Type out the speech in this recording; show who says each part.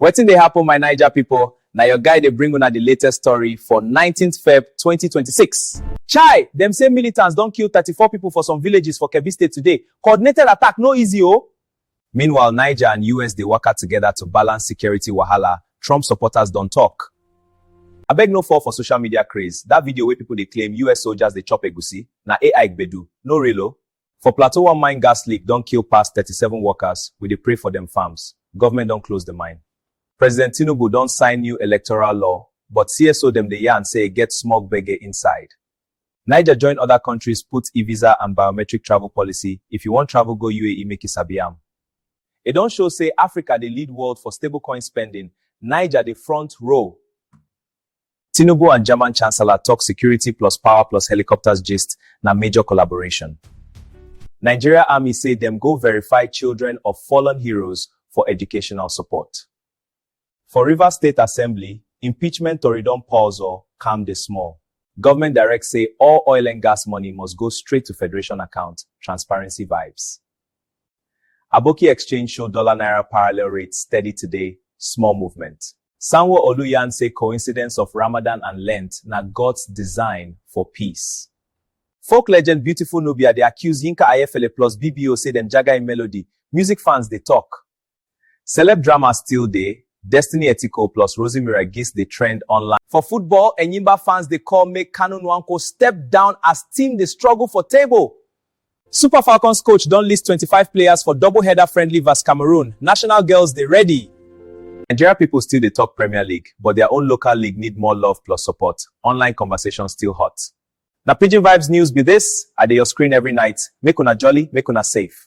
Speaker 1: Wetin dey happen my Naija people, na your guy dey bring una the latest story for 19th Feb 2026. Chai! Dem say militants don kill 34 people for some villages for Kebbi State today, coordinated attack no easy o! Meanwhile Niger and US dey waka together to balance security wahala, Trump supporters don talk. Abeg no fall for social media craze, that video wey people dey claim US soldiers dey chop egusi, na AI gbedu, no real o! For Plateau one mine gas leak don kill pass thirty seven workers, we dey pray for dem farms, government don close the mine. President Tinubu don sign new electoral law but CSO dem dey yarn say e get small gbege inside. Niger join other countries put e-visa and biometric travel policy, if you wan travel go UAE make you sabi am. E don show say Africa dey lead world for stablecoin spending, Niger dey front row. Tinubu and German Chancellor talk security plus power plus helicopters gist na major collaboration. Nigeria Army say dem go verify children of fallen heroes for educational support. For Rivers State Assembly, impeachment tori don pause or calm dey small. Government direct say all oil and gas money must go straight to federation account, transparency vibes. Aboki Exchange show dollar naira parallel rate steady today, small movement. Sanwo-Olu yarn say coincidence of Ramadan and Lent na God's design for peace. Folk legend Beautiful Nubia dey accuse Yinka Ayefele plus BBO say dem jaga im melody, music fans dey talk. Celeb drama still dey, Destiny Etiko plus Rosemira Gist dey trend online. For football, Enyimba fans dey call make Kanu Nwankwo step down as team dey struggle for table. Super Falcons coach don list twenty five players for double header friendly vs Cameroon, national girls dey ready. Nigeria people still dey talk Premier League, but their own local league need more love plus support, online conversation still hot. Na Pidgin Vibes news be this, I dey your screen every night, make una jolly, make una safe.